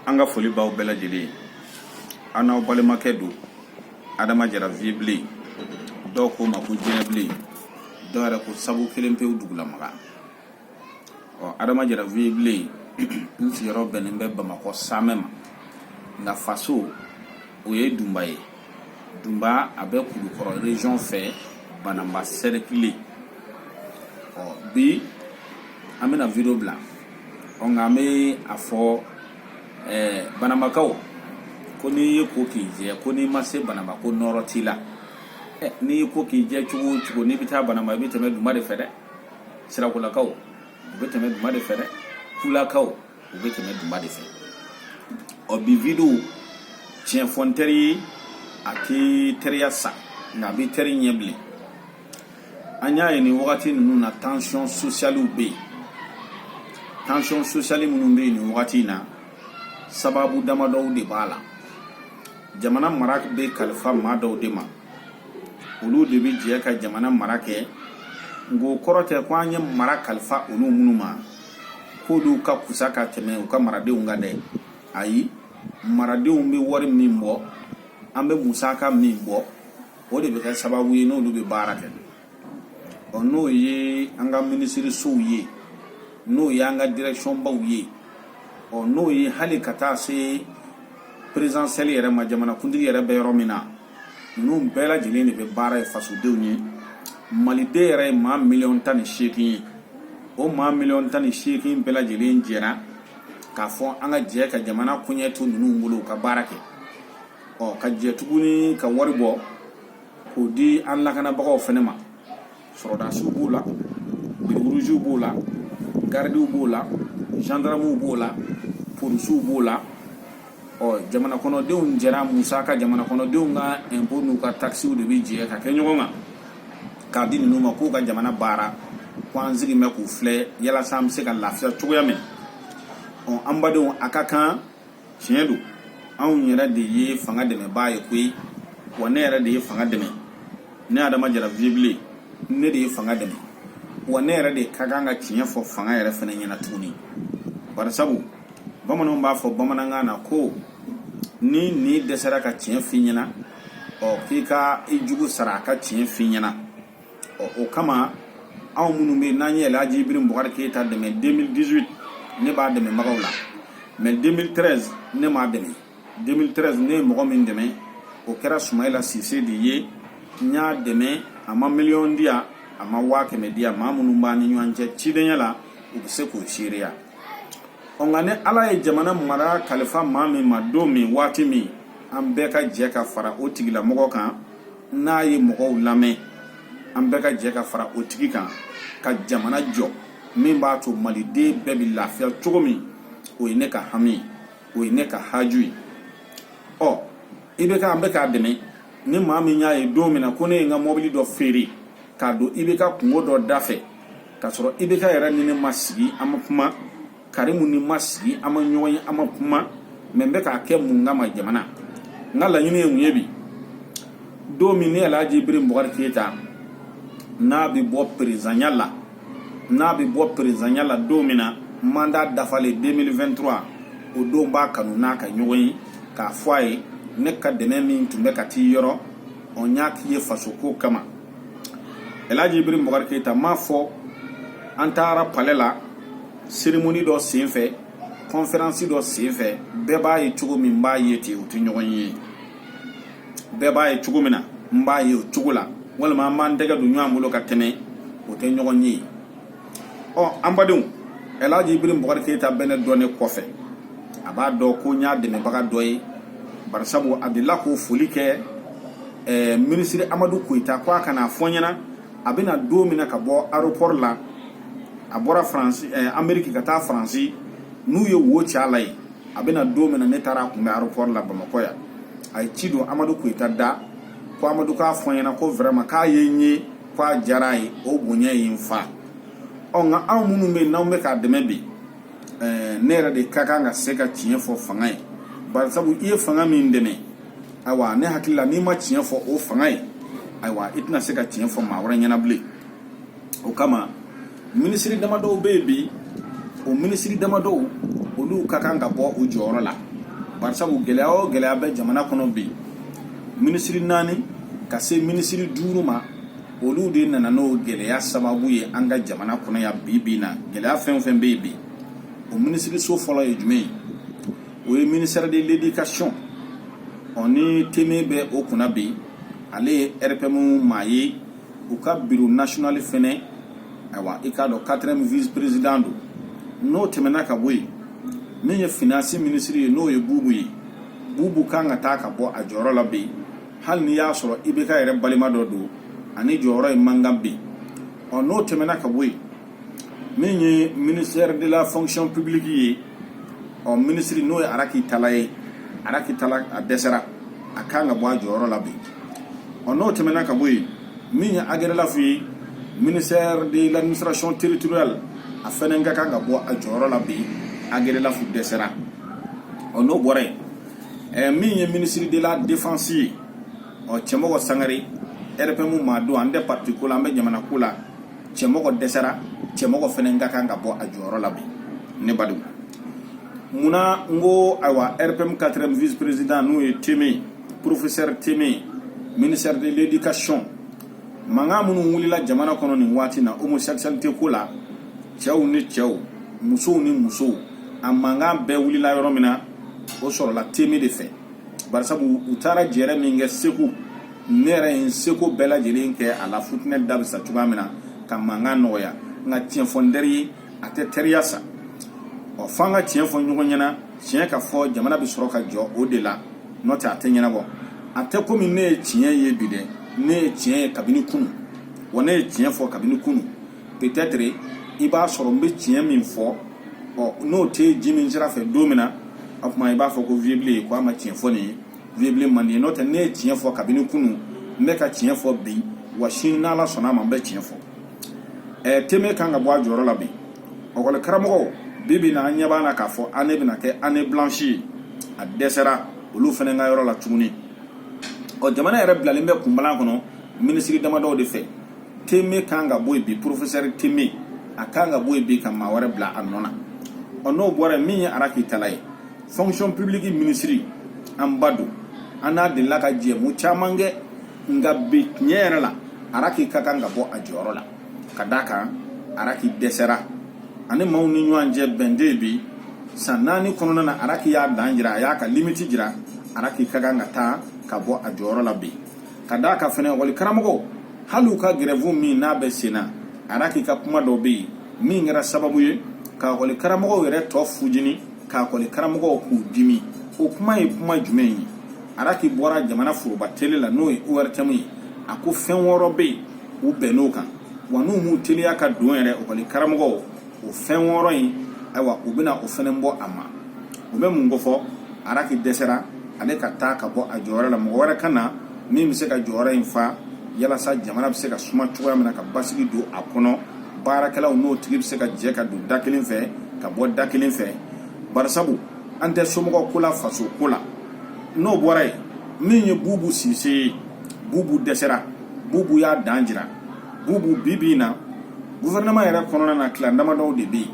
an ka foli b'aw bɛɛ lajɛlen ye an n'aw balimakɛ don adama jara vibilen dɔw ko n ma ko jɛnɛbilen dɔw yɛrɛ ko sabu kelen pewu dugulamaga ɔ adama jara vibilen n sigiyɔrɔ bɛnnen bɛ bamakɔ samɛ ma nka faso o ye dunba ye dunba a bɛ kulukɔrɔ region fɛ bananba sɛrɛkili ɔ bi an bɛna video bila ɔ nka an bɛ a fɔ ɛɛ bananbakaw ko n'i y'i ko k'i jɛ ko n'i ma se bananba ko nɔɔrɔ t'i la ɛ n'i y'i ko k'i jɛ cogo o cogo n'i bɛ taa bananba i bɛ tɛmɛ dunba de fɛ dɛ sirakolakaw u bɛ tɛmɛ dunba de fɛ dɛ kulakaw u bɛ tɛmɛ dunba de fɛ ɔ bi videow tiɲɛ fɔ n teri ye a tɛ teriya sa nka a bɛ teri ɲɛ bilen an y'a ye nin wagati ninnu na tansiyɔn sosiyaliw bɛ yen tansiyɔn sosiyali minnu bɛ yen nin wagati in na sababu damadɔw de b'a la jamana mara bɛ kalifa maa dɔw de ma olu de bɛ jɛ ka jamana mara kɛ nka o kɔrɔ tɛ ko an ye mara kalifa olu minnu ma k'olu ka kusa ka tɛmɛ u ka maradenw kan dɛ ayi maradenw bɛ wari min bɔ an bɛ musaka min bɔ o de bɛ kɛ sababu ye n'olu bɛ baara kɛ ɔ n'o ye an ka minisirisow ye n'o ye an ka direkisɔnbaw ye ɔ n'o ye hali ka taa se perezidansiyɛli yɛrɛ ma jamanakuntigi yɛrɛ bɛ yɔrɔ min na ninnu bɛɛ lajɛlen de bɛ baara ye fasodenw ye maliden yɛrɛ ye maa miliyɔn tan ni seegin ye o maa miliyɔn tan ni seegin bɛɛ lajɛlen jɛra k'a fɔ an ka jɛ ka jamana koɲɛ to ninnu bolo u ka baara kɛ ɔ ka jɛ tuguni ka wari bɔ k'o di an lakanabagaw fana ma sɔrɔdasiw b'o la bere ruziw b'o la garidiw b'o la zandaramuw b'o la polisiw b'o la ɔ jamana kɔnɔdenw jɛra musaka jamana kɔnɔdenw ka ɛnpo n'u ka takisiw de bɛ jɛ ka kɛ ɲɔgɔn kan k'a di ninnu ma k'u ka jamana baara ko an sigilen bɛ k'u filɛ yalasa an bɛ se ka lafiya cogoya min ɔ an badenw a ka kan tiɲɛ don anw yɛrɛ de ye fanga dɛmɛbaa ye koyi wa ne yɛrɛ de ye fanga dɛmɛ ne adama jara vibilen ne de ye fanga dɛmɛ wa ne yɛrɛ de ka kan ka tiɲɛ fɔ fanga yɛrɛ fana ɲɛna tuguni barisabu bamananw b'a fɔ bamanankan na ko n'i ɲin dɛsɛra ka tiɲɛ f'i ɲɛna ɔ k'i ka i jugu sara a ka tiɲɛ f'i ɲɛna ɔ o kama anw minnu bɛ n'an ye Alhaji Ibiri Bukari Keyita dɛmɛ 2018 ne b'a dɛmɛbagaw la mais 2013 ne m'a dɛmɛ 2013 ne ye mɔgɔ min dɛmɛ o kɛra Sumayila Sise de ye n y'a dɛmɛ a ma miliyɔn di yan a ma waa kɛmɛ di yan maa minnu b'an ni ɲɔgɔn cɛ cidenya la u bɛ se k'o seereya ɔ nka ni ala ye jamana mara kalifa maa min ma don min waati min an bɛɛ ka jɛ ka fara o tigilamɔgɔ kan n'a ye mɔgɔw lamɛn an bɛɛ ka jɛ ka fara o tigi kan ka jamana jɔ min b'a to maliden bɛɛ bɛ lafiya cogo min o ye ne ka hami ye o ye ne ka haju ye ɔ ibk an bɛ k'a dɛmɛ ni maa min y'a ye don min na ko ne ye n ka mɔbili dɔ feere k'a don ibk kunko dɔ da fɛ k'a sɔrɔ ibk yɛrɛ ni ne ma sigi an ma kuma karimu ni n ma sigi an ma ɲɔgɔn ye an ma kuma mais n bɛ k'a kɛ mun kama jamana n ka laɲini ye mun ye bi don min ni alhaji ibiri bukari keyita n'a bɛ bɔ perezanya la n'a bɛ bɔ perezanya la don min na manda dafalen 2023 o don n b'a kanu n n'a ka ɲɔgɔn ye k'a fɔ a ye ne ka dɛmɛ min tun bɛ ka t'i yɔrɔ o n y'a k'i ye fasoko kama Elhaji Ibiri Bubakari Keyita m'a fɔ an taara palɛ la cérémonie dɔ senfɛ conférence dɔ senfɛ bɛɛ b'a ye cogo min n b'a ye ten o tɛ ɲɔgɔn ye bɛɛ b'a ye cogo min na n b'a ye o cogo la walima an b'an tɛgɛ don ɲɔgɔn bolo ka tɛmɛ o tɛ ɲɔgɔn ye ɔ an badenw ɛlaji ibrim bukari keyita bɛ ne dɔn ne kɔfɛ a b'a dɔn ko n y'a dɛmɛbaga dɔ ye barisabu a delila k'o foli kɛ ɛɛ eh, minisiri amadu koyita ko a ka n'a fɔ n ɲɛna a bɛ na don min na ka bɔ aeroport la a bɔra faransi ɛɛ eh, ameriki ka taa faransi n'u ye wo ci a la yen a bɛ na don min na ne taara a kunbɛ aeroport la bamakɔ yan a ye ci don amadu koyita da ko amadu k'a fɔ n ɲɛna ko vraiment k'a ye n ye k'a diyara a ye o bonya ye n fa ɔ nka anw minnu bɛ yen n'anw bɛ k'a dɛmɛ bi ɛɛ ne yɛrɛ de ka kan ka se ka tiɲɛ fɔ fanga ye bari sabu i ye fanga min dɛmɛ ayiwa ne hakili la n'i ma tiɲɛ fɔ o fanga ye ayiwa i tɛna se ka tiɲɛ fɔ maa wɛrɛ ɲɛna bilen o kama minisiri damadɔw bɛ yen bi o minisiri damadɔw olu ka kan ka bɔ u jɔyɔrɔ la barisabu gɛlɛya o gɛlɛya bɛ jamana kɔnɔ bi minisiri naani ka se minisiri duuru ma olu de nana n'o gɛlɛya sababu ye an ka jamana kɔnɔ yan bi bi in na gɛlɛya fɛn o fɛn bɛ yen bi o minisiriso fɔlɔ ye jumɛn ye o ye ministère de l'éducation ɔ ni teme bɛ o kunna bi ale ye rpm maa ye u ka biro national fɛnɛ ayiwa i k'a dɔn quatrième vice président don n'o tɛmɛna ka bɔ yen min ye finance ministre ye n'o ye bubu ye bubu kan ka taa ka bɔ a jɔyɔrɔ la bi hali n'i y'a sɔrɔ ibk yɛrɛ balima dɔ don a ni jɔyɔrɔ ye man kan bi ɔ n'o tɛmɛna ka bɔ yen min ye ministère de la fonction publique ye ɔ minisiri n'o ye araki tala ye araki tala a dɛsɛra a kan ka bɔ a jɔyɔrɔ la bi ɔ n'o tɛmɛna ka bɔ yen min ye agɛrɛlafu ye ministère de l'administration territoriale a fɛnɛ ka kan ka bɔ a jɔyɔrɔ la bi agɛrɛlafu dɛsɛra ɔ n'o bɔra yen ɛɛ min ye ministre de la défense ye ɔ cɛmɔgɔ sangare rpm maa don an tɛ parti ko la an bɛ jamana ko la cɛmɔgɔ dɛsɛra cɛmɔgɔ fana ka kan ka bɔ a jɔyɔrɔ la bi ne b'a dɔn munna n ko ayiwa rpm 4 vice président n'o ye teme professeur teme ministère de l'éducation mankan minnu wulila jamana kɔnɔ nin waati na homosexualité ko la cɛw ni cɛw musow ni musow a mankan bɛɛ wulila yɔrɔ min na o sɔrɔla teme de fɛ barisabu u taara jɛrɛ min kɛ segu ne yɛrɛ ye n seko bɛɛ lajɛlen kɛ a la futinɛ da bɛ sa cogoya min na ka mankan nɔgɔya nka tiɲɛ fɔ n teri ye a tɛ teriya sa ɔ fo an ka tiɲɛ fɔ ɲɔgɔn ɲɛna tiɲɛ ka fɔ jamana bɛ sɔrɔ ka jɔ o de la n'o tɛ a tɛ ɲɛnabɔ a tɛ komi ne ye tiɲɛ ye bi dɛ ne ye tiɲɛ ye kabini kunun wa ne ye tiɲɛ fɔ kabini kunun peut-être i b'a sɔrɔ n bɛ tiɲɛ min fɔ ɔ n'o tɛ ji min sira fɛ don min na o tuma i b'a fɔ ko vieux Bile k'a ma tiɲɛ fɔ nin ye vieux Bile man di n'o tɛ ne ye tiɲɛ fɔ kabini kunun n bɛ ka tiɲɛ fɔ bi wa sini n'ala sɔnna a ma n bɛ tiɲɛ fɔ ɛɛ teme kan ka bɔ a jɔyɔrɔ la bi ekɔli karamɔgɔw bi bi na an ɲɛ b'a la k'a fɔ année bɛna kɛ année blanche ye a dɛsɛra olu fɛnɛ ka yɔrɔ la tuguni ɔ jamana yɛrɛ bilalen bɛ kunbalan kɔnɔ minisiri damadɔw de fɛ teme kan ka bɔ yen bi professeur teme a kan ka bɔ yen bi ka maa wɛrɛ bila a nɔ na ɔ n'o bɔra yen min ye araki tala ye fonction publique minisiri an b'a dɔn an n'a delila ka jɛmu caman kɛ nka bi tiɲɛ yɛrɛ la araki ka kan ka bɔ a jɔyɔrɔ la ka d'a kan araki dɛsɛra a ni maaw ni ɲɔgɔn cɛ bɛn tɛ bi san naani kɔnɔna na araki y'a dan jira a y'a ka limiti jira araki ka kan ka taa ka bɔ a jɔyɔrɔ la bi ka d'a kan fɛnɛ ekɔli karamɔgɔ hali u ka gɛrɛfu min n'a bɛ sen na araki ka kuma dɔ bɛ yen min kɛra sababu ye ka ekɔli karamɔgɔw yɛrɛ tɔ fujini k'ekɔli karamɔgɔw k'u dimi o kuma ye kuma jumɛn ye araki bɔra jamana foroba tele la n'o ye ortm ye a ko fɛn wɔɔrɔ bɛ yen u bɛnn'o kan wa n'u m'u teliya ka don yɛrɛ ekɔli karamɔgɔw o fɛn wɔɔrɔ in ayiwa u bɛna o fɛnɛ bɔ a ma o bɛ mun kofɔ araki dɛsɛra ale ka taa ka bɔ a jɔyɔrɔ la mɔgɔ wɛrɛ ka na min bɛ se ka jɔyɔrɔ in fa yalasa jamana bɛ se ka suma cogoya min na ka basigi don a kɔnɔ baarakɛlaw n'o tigi bɛ se ka jɛ ka don da kelen fɛ ka bɔ da kelen fɛ barisabu an tɛ somɔgɔ ko la faso ko la n'o bɔra yen min ye bubu sise ye bubu dɛsɛra bubu y'a dan jira bubu bi bi in na gouvernement yɛrɛ kɔnɔna na tila damadɔw de bɛ yen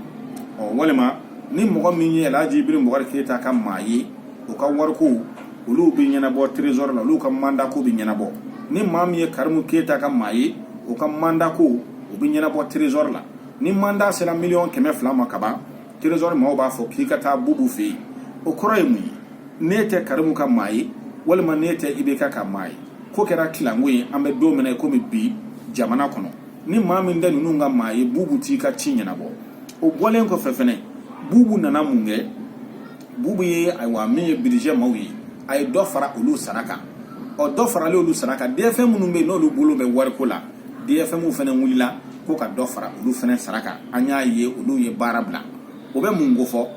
ɔ walima ni mɔgɔ min ye alhaji ibrahim bubakari keyita ka maa ye o ka wariko olu bɛ ɲɛnabɔ trésor la olu ka mandako bɛ ɲɛnabɔ ni maa min ye karimu keyita ka maa ye o ka mandako o bɛ ɲɛnabɔ trésor la ni mandat sera miliyɔn kɛmɛ fila ma kaban trésor maaw b'a fɔ k'i ka taa bubu fɛ yen o kɔrɔ ye mun ye n'e tɛ karimu ka maa ye walima n'e tɛ ibk ka maa ye ko kɛra tilanko ye an bɛ don min na komi bi jamana kɔnɔ ni maa min tɛ ninnu ka maa ye bubu t'i ka ci ɲɛnabɔ o bɔlen kɔfɛ fɛnɛ bubu nana mun kɛ bubu ye ayiwa min ye budget maaw ye a ye dɔ fara olu sara kan o dɔ faralen olu sara kan dfm minnu bɛ yen n'olu bolo bɛ wariko la dfm fana wulila ko ka dɔ fara olu fana sara kan an y'a ye olu ye baara bila o bɛ mun kofɔ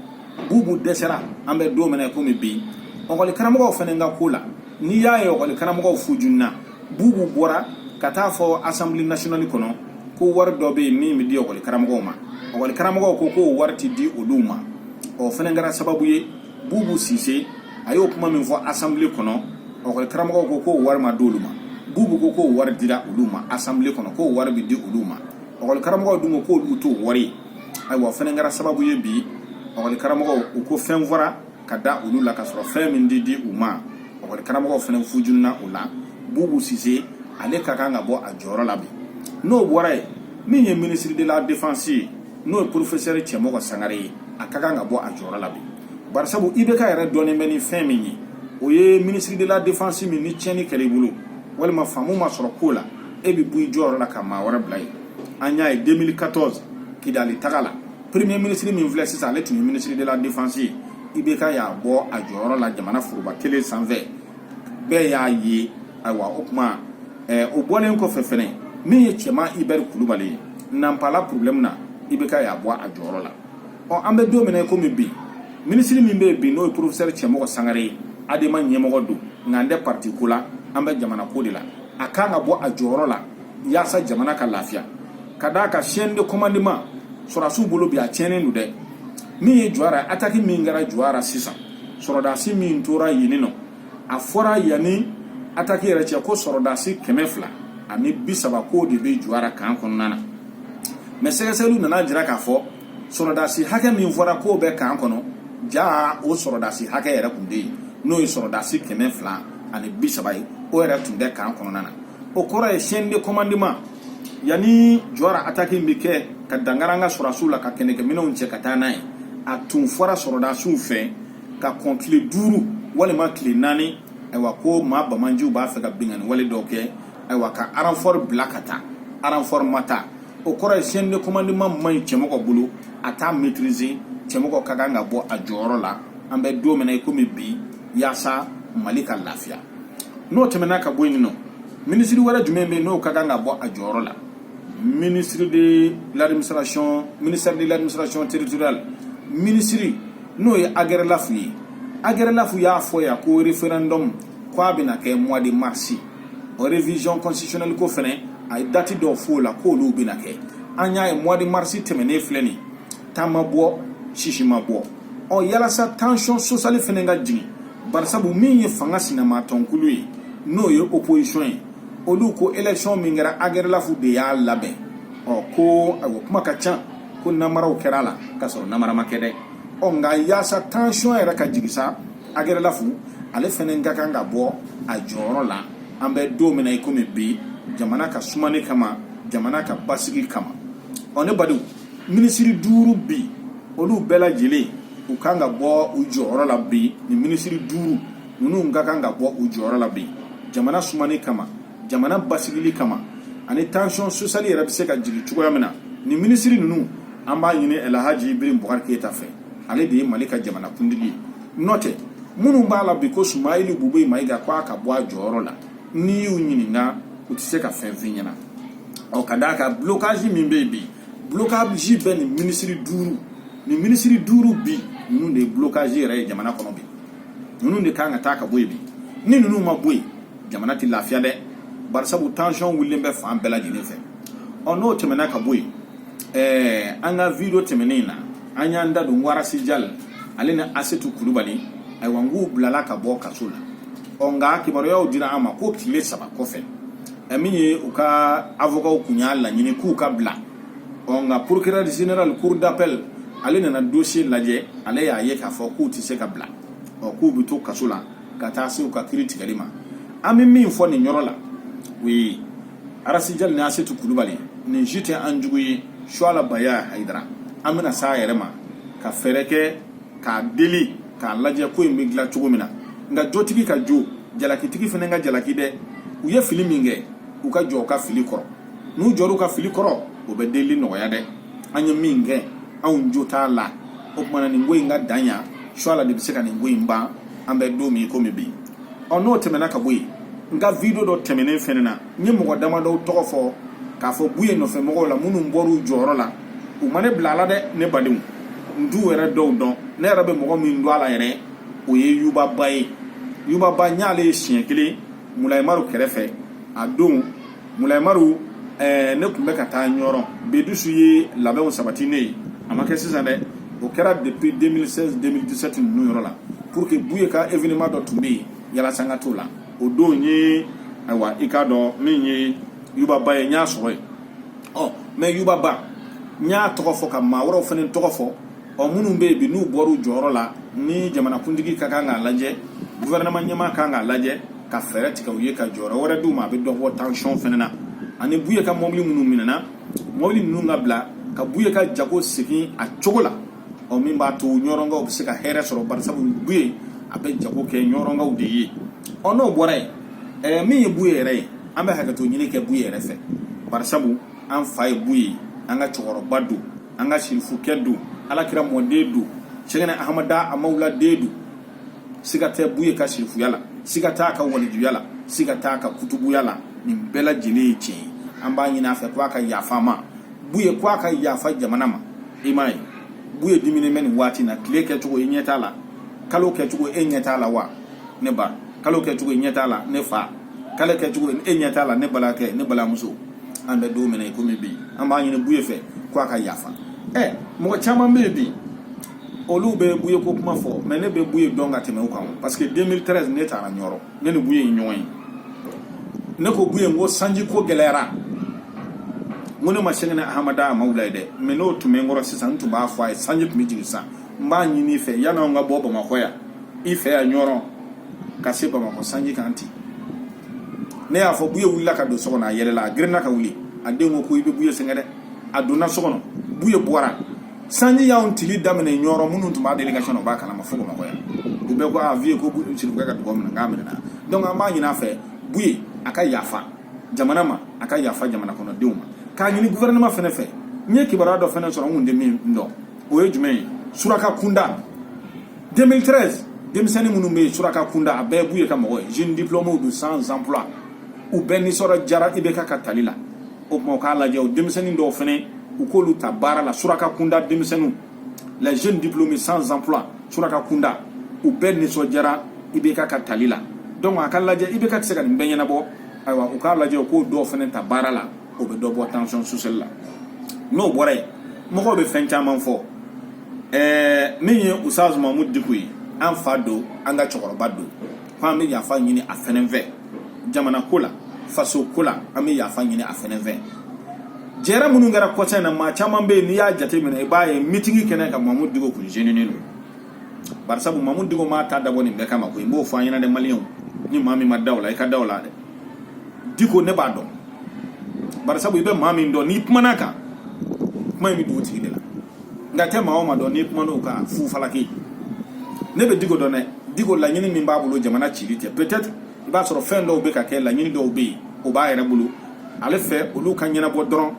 bubu dɛsɛra an bɛ don min na komi bi ɔkɔli karamɔgɔw fana ka ko la n'i y'a ye ɔkɔli karamɔgɔw fujunna bubu bɔra ka t'a fɔ assemblée nationale kɔnɔ ko wari dɔ bɛ yen min bɛ di ɔkɔli karamɔgɔw ma ɔkɔli karamɔgɔw ko k'o wari tɛ di olu ma o fana kɛra sababu ye bubu sise a y'o kuma min fɔ assemblée kɔnɔ ɔkɔli karamɔgɔw ko k'o wari ma di olu ma bubu ko k'o wari dira olu ma assemblée kɔnɔ k'o wari bɛ di olu ma ɔkɔli karamɔgɔw dun ko k'olu t'o wari ye ayiwa o fana kɛra sababu ye bi ɔkɔli karamɔgɔw u ko fɛn fɔra ka da olu la ka sɔrɔ fɛn in tɛ di u ma ɔkɔli karamɔgɔw fana fujunna o la bubu sise ale ka kan ka bɔ a jɔyɔrɔ la bi n'o bɔra yen min ye ministre de la défense ye n'o ye professeur cɛmɔgɔ sangare ye a ka kan ka bɔ a jɔyɔrɔ la bi barisabu ibk yɛrɛ dɔnnen bɛ ni fɛn min ye o ye ministre de la défense min ni tiɲɛni kɛra i bolo walima faamu ma sɔrɔ ko la e bɛ bɔ i jɔyɔrɔ la ka maa wɛrɛ bila yen an y'a ye 2014 kidali taga la premier ministre min filɛ sisan ale tun ye ministre de la défense ye IBK y'a bɔ a jɔyɔrɔ la jamana foroba tele sanfɛ bɛɛ y'a ye ayiwa o tuma ɛɛ o bɔlen kɔfɛ fɛnɛ min ye cɛman Ibɛri Kulubali ye nanpala problème na IBK y'a bɔ a jɔyɔrɔ la ɔ an bɛ don min na i komi bi minisiri min bɛ yen bi n'o ye porofesɛri cɛmɔgɔ sangare ye adema ɲɛmɔgɔ don nka an tɛ pariti ko la an bɛ jamana ko de la a ka kan ka bɔ a jɔyɔrɔ la yaasa jamana ka lafiya ka d'a ka chaîne de commandement sɔrɔdasiw bolo bi a tiɲɛnen don dɛ min ye jura ataki min kɛra jura sisan sɔrɔdasi min tora yen nɔ a fɔra yanni ataki yɛrɛ cɛ ko sɔrɔdasi kɛmɛ fila ani bi saba k'o de bɛ jura kan kɔnɔna na mais sɛgɛsɛgɛliw nana jira k'a fɔ sɔrɔdasi hakɛ min fɔra k'o bɛ kan kɔnɔ jaa o sɔrɔdasi hakɛ yɛrɛ tun tɛ yen n'o ye sɔrɔdasi kɛmɛ fila ani bi saba ye o yɛrɛ tun tɛ kan kɔnɔna na o kɔrɔ ye chaîne de commandement yanni jura ataki bɛ kɛ ka dankari an ka sɔrɔdasiw la ka kɛlɛkɛminɛnw cɛ ka taa n'a ye a tun fɔra sɔrɔdasiw fɛ ka kɔn tile duuru walima tile naani ayiwa ko maa banbaanciw b'a fɛ ka binkanni wale dɔw kɛ ayiwa ka aranfɔri bila ka taa aranfɔri ma taa o kɔrɔ ye chaîne de commandement man ɲi cɛmɔgɔ bolo a t'a maîtriser cɛmɔgɔ ka kan ka bɔ a jɔyɔrɔ la an bɛ don min na i komi bi yaasa mali ka lafiya n'o tɛmɛna ka bɔ yen nɔ minisiri wɛrɛ jumɛn bɛ yen n'o ka kan ka bɔ a jɔyɔrɔ la ministre de l'administration ministère de l'administration territoriale minisiri n'o ye agɛrɛlafu ye agɛrɛlafu y'a fɔ yan ko référendum k'a bɛna kɛ mois de mars o révision constitutionnelle ko fɛnɛ a ye dati dɔw f'o la k'olu bɛna kɛ an y'a ye mois de mars tɛmɛnen filɛ nin ta ma bɔ sisi ma bɔ ɔ yalasa tension sociale fɛnɛ ka jigin barisabu min ye fanga sinamatɔnkulu ye n'o ye opposition ye olu ko élection min kɛra agɛrɛlafu de y'a labɛn ɔ ko ayiwa kuma ka ca ko namaraw kɛra a la k'a sɔrɔ namara ma kɛ dɛ ɔ nka yaasa tension yɛrɛ ka jigin sa agɛrɛlafu ale fɛnɛ ka kan ka bɔ a jɔyɔrɔ la an bɛ don min na i komi bi jamana ka sumani kama jamana ka basigi kama ɔ ne badenw minisiri duuru bi olu bɛɛ lajɛlen u kan ka bɔ u jɔyɔrɔ la bi nin minisiri duuru ninnu ka kan ka bɔ u jɔyɔrɔ la bi jamana sumani kama jamana basigili kama ani tension sociale yɛrɛ bɛ se ka jigin cogoya min na nin minisiri ninnu an b'a ɲini ɛlahaji ibrahim bubakari keyita fɛ ale de ye mali ka jamana kuntigi ye n'o tɛ minnu b'a la bi ko sumeyilu bubɛyi mayiga ko a ka bɔ a jɔyɔrɔ la n'i y'u ɲininka u tɛ se ka fɛn f'i ɲɛna ɔ ka d'a ka blocage min bɛ yen bi blocage bɛ nin minisiri duuru nin minisiri duuru bi ninnu de ye blocage yɛrɛ ye jamana kɔnɔ bi ninnu de kan ka taa ka bɔ yen bi ni ninnu ma bɔ yen jamana tɛ lafiya dɛ barisabu tension wulilen bɛ fan bɛɛ lajɛlen fɛ ɔ n'o tɛmɛna ka bɔ yen ɛɛ an ka video tɛmɛnen na an y'an da don ɔ rasi jali ale ni asetu kulubali ayiwa n k'u bilala ka bɔ kaso la ɔ nka kibaruyaw dira an ma ko tile saba kɔfɛ ɛ min ye u ka avokaw kun y'a laɲini k'u ka bila ɔ nka procureur général cour d'appel ale nana dossier lajɛ ale y'a ye k'a fɔ k'u tɛ se ka bila ɔ k'u bɛ to kaso la ka taa se u ka kiri tigɛli ma an bɛ min fɔ nin yɔrɔ la o ye arasijali ni asetu kulubali nin si tɛ an jugu ye suala baya hayidara an bɛna s'a yɛrɛ ma ka fɛɛrɛ kɛ k'a deli k'a lajɛ ko in bɛ dilan cogo min na nka jotigi ka jo jalakitigi fana ka jalaki dɛ u ye fili min kɛ u ka jɔ u ka fili kɔrɔ n'u jɔra u ka fili kɔrɔ o bɛ delili nɔgɔya dɛ an ye min kɛ anw jo t'a la o tumana nin ko in ka dan yan suala de bɛ se ka nin ko in ban an bɛ don min komi bi ɔ n'o tɛmɛna ka bɔ yen n ka video dɔ tɛmɛnen fɛnɛ na n ye mɔgɔ damadɔw tɔgɔ fɔ k'a fɔ buye nɔfɛ mɔgɔw la minnu bɔr'u jɔyɔrɔ la u ma ne bila a la dɛ ne badenw n t'u yɛrɛ dɔw dɔn ne yɛrɛ bɛ mɔgɔ min dɔn a la yɛrɛ o ye yubaba ye yubaba n y'ale ye siɲɛ kelen mulayimaru kɛrɛfɛ a don mulayimaru ɛɛ ne tun bɛ ka taa ɲɔrɔ bedusu ye labɛnw sabati ne ye a ma kɛ sisan dɛ o kɛra depuis 2016 2017 ninnu yɔrɔ la pour que buye ka événement dɔ tun bɛ yen yalasa n ka t'o la o don n ye ayiwa i k'a dɔn min ye yubaba ye n y'a sɔrɔ yen ɔ mɛ yubaba n y'a tɔgɔ fɔ ka maa wɛrɛw fana tɔgɔ fɔ ɔ minnu bɛ yen bi n'u bɔra u jɔyɔrɔ la ni jamanakuntigi ka kan k'a lajɛ guvɛrɛnɛma ɲɛmaa ka kan k'a lajɛ ka fɛɛrɛ tigɛ u ye ka jɔyɔrɔ wɛrɛ d'u ma a bɛ dɔ bɔ tansiyɔn fana na ani buye ka mɔbili minnu minɛna mɔbili ninnu ka bila ka buye ka jago segin a cogo la ɔ min b'a to ɲɔrɔnkaw bɛ se ka hɛrɛ sɔrɔ barisabu buye a bɛ jago kɛ ɲɔrɔnkaw de ye ɔ n'o bɔra yen ɛɛ min ye buye yɛrɛ ye an bɛ hakɛto ɲini kɛ buye yɛrɛ fɛ barisabu an fa ye buye ye an ka cɛkɔrɔba don an ka sirifukɛ don ala kira mɔden don sɛgɛnɛ ahamada amawula den don siga tɛ buye ka sirifuya la siga t'a ka walijuya la siga t'a ka kutubuya la nin bɛɛ lajɛlen ye tiɲɛ ye an b'a ɲini a fɛ ko a ka yafa an ma buye ko a ka yafa jamana ma i m'a ye buye diminnen bɛ nin waati na tile kɛcogo i ɲɛ t'a la kalo kɛcogo e ɲɛ t'a la wa ne ba kalo kɛcogo i ɲɛ t'a la ne fa kalo kɛcogo e ɲɛ t'a la ne balimakɛ ne balimamuso an bɛ don min na i komi bi an b'a ɲini buye fɛ ko a ka yafa ɛ mɔgɔ caman bɛ yen bi olu bɛ buye ko kuma fɔ mɛ ne bɛ buye dɔn ka tɛmɛ u kan parce que 2013 ne taara ɲɔrɔ ne ni buye ye ɲɔgɔn ye ne ko buye n ko sanji ko gɛlɛyara n ko ne ma sɛgɛnɛ ahamada amawula ye dɛ mɛ n'o tun bɛ n kɔrɔ sisan n tun b'a fɔ a ye sanji tun bɛ jigin sisan n b'a ɲini i fɛ yan'anw ka bɔ bamakɔ yan i fɛ yan ɲɔrɔn ka se bamakɔ sanji ka na ten ne y'a fɔ buye wulila ka don so kɔnɔ a yɛlɛla a girinna ka wuli a den ko ko i bɛ buye sɛgɛn dɛ a donna so kɔnɔ buye bɔra sanji y'anw tili daminɛ ɲɔrɔ minnu tun b'a délégation o b'a kalama fo bamakɔ yan u bɛɛ ko a viye ko sirifukɛ ka dugawu minɛ k'a minɛna donc an b'a ɲini a fɛ buye a ka yafa jamana ma a ka yafa jamana kɔnɔdenw ma k'a ɲini gouvernement fɛnɛ fɛ n ye kibaruya dɔ fɛnɛ sɔrɔ n kun tɛ min dɔn o ye jumɛn ye suraka kunda 2013 denmisɛnnin minnu bɛ yen suraka kunda a bɛɛ b'u ye ka mɔgɔ ye jeunes diplômés don sans emploi u bɛɛ nisɔndiyara IBK ka tali la o tuma u k'a lajɛ o denmisɛnnin dɔw fana u k'olu ta baara la suraka kunda denmisɛnninw les jeunes diplômés sans emploi suraka kunda u bɛɛ nisɔndiyara IBK ka tali la donc a k'a lajɛ IBK tɛ se ka nin bɛɛ ɲɛnabɔ ayiwa u k'a lajɛ u k'o dɔw fana ta baara la o bɛ dɔ bɔ tension sociale la n'o bɔra yen mɔgɔw bɛ fɛn caman fɔ ɛɛ min ye ustaz mamudu diko ye an fa don an ka cɛkɔrɔba don ko an bɛ yafa ɲini a fɛnɛ fɛ jamana ko la faso ko la an bɛ yafa ɲini a fɛnɛ fɛ jɛrɛ minnu kɛra kɔsa in na maa caman bɛ yen n'i y'a jateminɛ i b'a ye mitingi kɛnɛ kan mamudu diko kun zeninen don barisabu mamudu diko m'a ta dabɔ nin bɛɛ kama ko i b'o fɔ an ɲɛna dɛ maliyɛnw ni maa min ma da o la i ka da o la dɛ diko ne b'a dɔn barisabu i bɛ maa min dɔn n'i kumana a kan kuma in bɛ dugu tigi de la nk'i tɛ maa o maa dɔn n'i kumana o kan fu falaki ne bɛ diko dɔn dɛ diko laɲini min b'a bolo jamana cili tɛ peut-être i b'a sɔrɔ fɛn dɔw bɛ ka kɛ laɲini dɔw bɛ yen o b'a yɛrɛ bolo ale fɛ olu ka ɲɛnabɔ dɔrɔn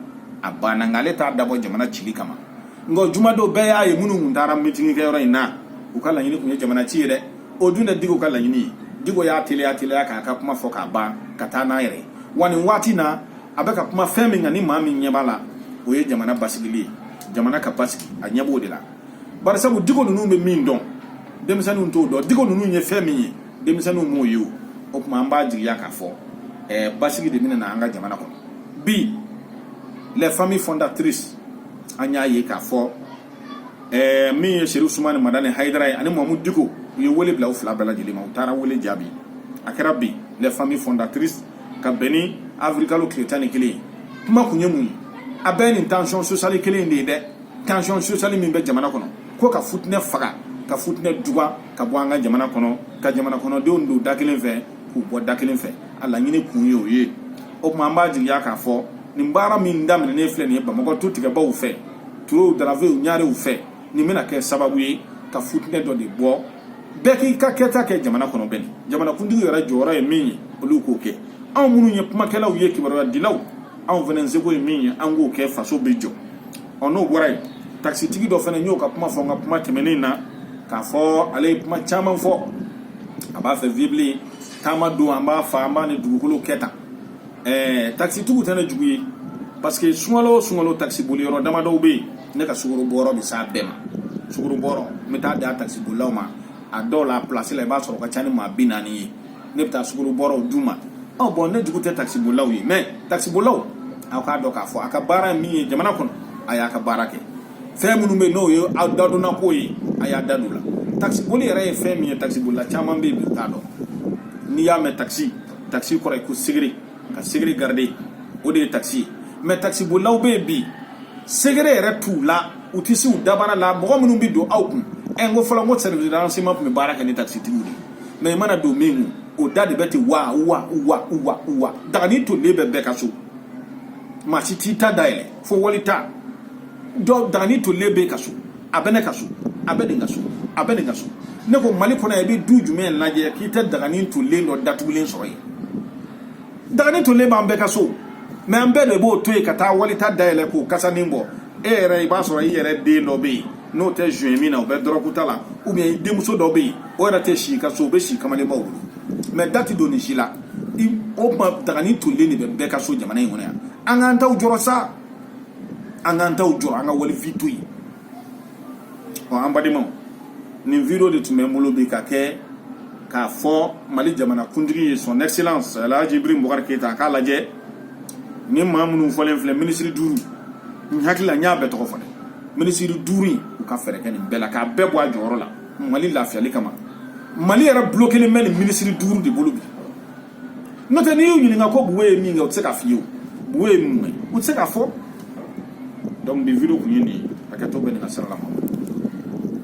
a banna nka ale t'a dabɔ jamana cili kama nka jumadon bɛɛ y'a ye minnu tun taara mitingikɛyɔrɔ in na u ka laɲini tun ye jamana ci ye dɛ o dun tɛ diko ka laɲini ye diko y'a teliya teliya k'a ka kuma fɔ k'a ban ka taa n'a yɛrɛ wa nin waati na a bɛ ka kuma fɛn min kan ni maa min ɲɛ b'a la o ye jamana basigili ye jamana ka basigi a ɲɛ b'o de la barisabu diko ninnu bɛ min dɔn denmisɛnninw t'o dɔn diko ninnu ye fɛn min ye denmisɛnninw m'o ye o o tuma an b'a jigiya k'a fɔ ɛɛ basigi de bɛna na an ka jamana kɔnɔ bi les familles fondatrices an y'a ye k'a fɔ ɛɛ min ye serifu usumani madani hayidara ye ani mamudu diko u ye wele bila u fila bɛɛ lajɛlen ma u taara wele jaabi a kɛra bi les familles fondatrices ka bɛn ni avril kalo tile tan ni kelen ye kuma kun ye mun ye a bɛɛ nin tension sociale kelen de ye dɛ tension sociale min bɛ jamana kɔnɔ ko ka futinɛ faga ka futinɛ duga ka bɔ an ka jamana kɔnɔ ka jamana kɔnɔdenw don da kelen fɛ k'u bɔ da kelen fɛ a laɲini kun ye o ye o tuma an b'a jigiya k'a fɔ nin baara min daminɛnen filɛ nin ye bamakɔ tutigɛbaw fɛ turew daravew ɲarew fɛ nin bɛna kɛ sababu ye ka futinɛ dɔ de bɔ bɛɛ k'i ka kɛta kɛ jamana kɔnɔ bɛɛ ni jamanakuntigiw yɛrɛ jɔyɔrɔ ye min ye olu k'o kɛ anw minnu ye kumakɛlaw ye kibaruya dilaw anw fana seko ye min ye an k'o kɛ faso bɛ jɔ ɔ n'o bɔra yen takisitigi dɔ fana n y'o ka kuma fɔ n ka kuma tɛmɛnen na k'a fɔ ale ye kuma caman fɔ a b'a fɛ vibile taama don an b'a fa an b'a ni dugukolo kɛ tan ɛɛ takisitigiw tɛ ne jugu ye parce que sunkalo o sunkalo takisiboli yɔrɔ damadɔw bɛ yen ne ka sukaro bɔrɔ bɛ s'a bɛɛ ma sukaro bɔrɔ n bɛ t'a di a takisibolilaw ma a dɔw la a pilasi la i b'a sɔrɔ o ka ca ni maa bi naani ye ne bɛ taa sukoro bɔrɔw d'u ma ɔ bɔn ne jugu tɛ takisibolilaw ye mɛ takisibolilaw aw k'a dɔn k'a fɔ a ka baara min ye jamana kɔnɔ a y'a ka baara kɛ fɛn minnu bɛ yen n'o ye aw dadonna ko ye a y'a da don la takisiboli yɛrɛ ye fɛn min ye takisibolila caman bɛ yen bi u t'a dɔn n'i y'a mɛn takisi takisi kɔrɔ ye ko secret ka secret garder o de ye takisi ye mɛ takisibolilaw bɛ yen bi secret yɛrɛ t'u la u tɛ se u dabara la mɔgɔ minnu bɛ don aw kun ɛ n ko fɔlɔ n ko service de renseignement tun bɛ baara kɛ ni takisitigiw de ye mɛ i mana don min o da de bɛ ten wa wa wa wa wa dagani tolilen bɛ bɛɛ ka so maa si t'i ta dayɛlɛ fo wali ta dɔ dagani tolilen b'e ka so a bɛ ne ka so a bɛ nin ka so a bɛ nin ka so ne ko mali kɔnɔ i bɛ du jumɛn lajɛ k'i tɛ dagani tolilen dɔ datugulen sɔrɔ yen dagani tolilen b'an bɛɛ ka so mɛ an bɛɛ de b'o to yen ka taa wali ta dayɛlɛ k'o kasanin bɔ e yɛrɛ i b'a sɔrɔ i yɛrɛ den dɔ bɛ yen n'o tɛ joint min na o bɛ dɔrɔguta la ou bien i denmuso dɔ bɛ yen o yɛrɛ tɛ si ka so o bɛ si kamalenbaw bolo mɛ da tɛ don nin si la o tuma dagani tolilen de bɛ bɛɛ ka so jamana in kɔnɔ yan an k'an taw jɔrɔ sa an k'an taw jɔrɔ an ka walifɛn to yen ɔ an badenmaw nin video de tun bɛ n bolo bi ka kɛ k'a fɔ mali jamana kuntigi ye son excellence alhaji ibrahim bubakari keyita a k'a lajɛ ni maa minnu fɔlen filɛ minisiri duuru n hakili la n y'a bɛɛ tɔgɔ fɔ dɛ minisiri duuru in u ka fɛɛrɛ kɛ nin bɛɛ la k'a bɛɛ bɔ a jɔyɔrɔ la mali lafiyali kama mali yɛrɛ bulokelen bɛ nin minisiri duuru de bolo bi n'o tɛ n'i y'u ɲininka ko buye ye mun kɛ u tɛ se k'a f'i ye o buye ye mun ye u tɛ se k'a fɔ donc bi video kun ye nin ye hakɛto bɛ ne ka sira la ma